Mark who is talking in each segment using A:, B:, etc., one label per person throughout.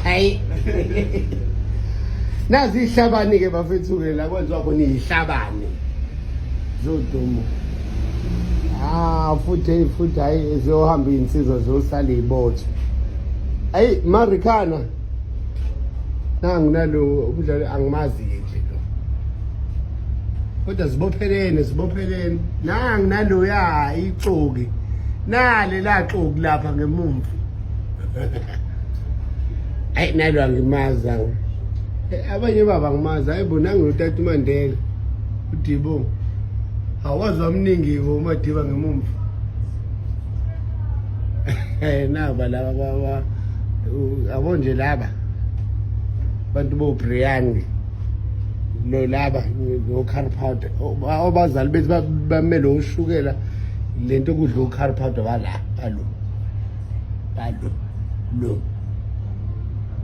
A: hayi nazi ihlabani ke bafethu ke la kwenziwa khona ihlabani zodumo ah futhi futhi hayi ziyohamba insizwa zosala ibotho ayi marikana nangu nalo umdlali angimazi ke nje lo kodwa zibophelene zibophelene nangu naloya ixoki nale laxoki lapha ngemumva ayi nalo angimazi awu abanye baba ngimazi hayi bo nangu utata umandela udibo awazi wamningi bo umadiba ngemumva eh naba laba baba abo nje laba abantu bo Brian lo laba ngo car powder obazali bethu bamele ushukela lento kudla u car powder wala alo bado no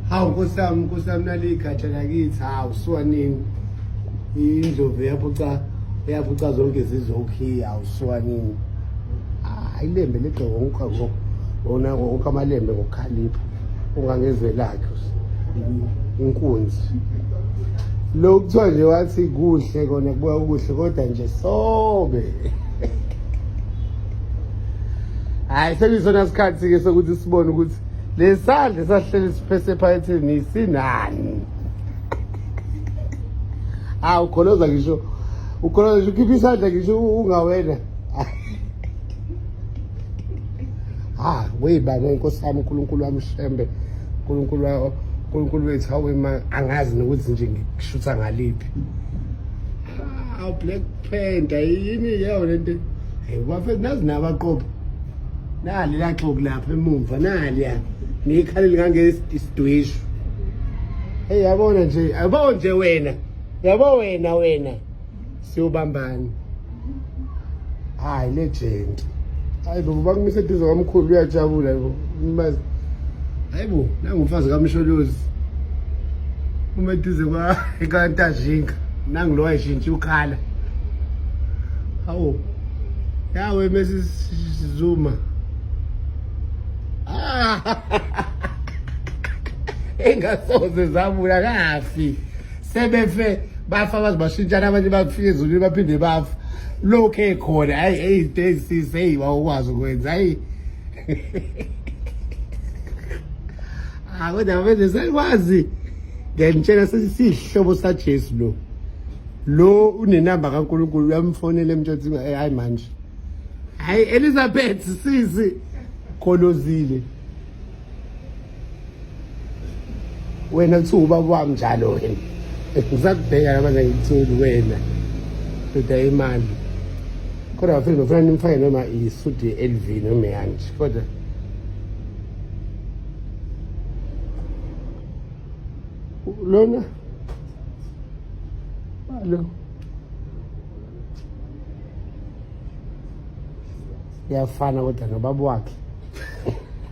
A: hawu nkosi yami nkosi yami naliyigatsha lakithi hawu suwa nini indlovu eyaphuca eyaphuca zonke izizwe ukhiya hawu suwa nini hayi lembe legcoka ngokha ngo wona wonke amalembe ngokukhalipha ungangezwe lakhe inkunzi lokhu kuthiwa nje wathi kuhle kona kubuya kuhle kodwa nje sobe hayi sekusona sikhathi-ke sokuthi sibone ukuthi lesandla esahlele siphese ephaketheni sinani hawu ukholoza ngisho ukholoza ngisho ukhipha isandla ngisho ungawena ha weyibaba nkosi yami unkulunkulu wami shembe unkulunkulu unkulunkulu wethu hawema angazi nokuthi nje ngikushutha ngaliphi aw black panther yini yeyo lento hey bafethu nazi nabaqopha nali laxoku lapha emumva nali ya ngikhalile ngangesidweshu hey yabona nje yabo nje wena yabo wena wena siwubambani hayi legend hayi bo bakumise eduze kwamkhulu uyajabula bo mbazi hayi bo nangumfazi kamsholozi uma eduze kwa kantajinga nangilowa wayeshintsha ukhala hawu yawe Mrs Zuma ah engasoze zabula kafi sebefe bafa baze bashintshana abanye bakufika ezulwini baphinde bafa lokhu ekhona hayi eyi into ezisisi eyi wawukwazi ukwenza hayi akodwa ah, manje sekwazi ngiyanitshela sesihlobo sajesu lo lo unenamba kankulunkulu uyamfonela emtshothi eh, hayi manje hayi elizabeth sisi kholozile wena kuthiwa ubaba wami njalo wena ngisakubheka labana ngikutholi wena ndoda imali kodwa bafethu ngifuna nimfake noma isudi ye-lv noma yanje kodwa lona lo yafana kodwa nobaba wakhe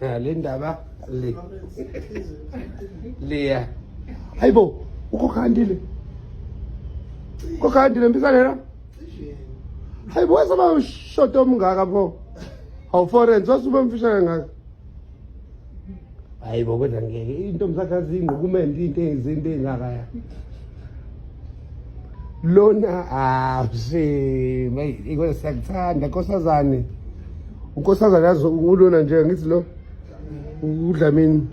A: le ndaba le leya hayi bo ukhokha andile ukhokha andile mbisalela hayi bo wesaba ushoto omngaka pho hawu forense wasuba mfishane ngaka hayi bo kodwa ngeke intombi sakhe azingokumenda into ezinto engakaya lona awuse mayi ikona siyakuthanda nkosazane unkosazane yazi ulona nje ngithi lo udlamini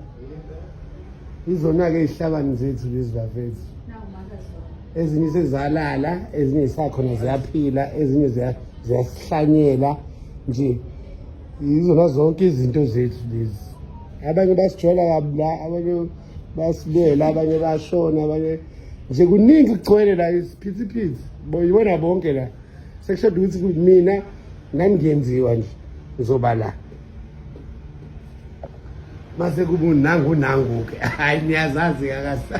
A: izona-ke izihlabani zethu lezi bafethu ezinye sezalala ezinye zisakhona ziyaphila ezinye ziyasihlanyela nje yizona zonke izinto zethu lezi abanye basijola kabi la abanye basibela abanye bashona abanye nje kuningi kugcwele la isiphithiphithi yibona bonke la sekushoda ukuthi mina ngandiyenziwa nje ngizoba la mase kubu nangu nangu ke hayi niyazazi kakasa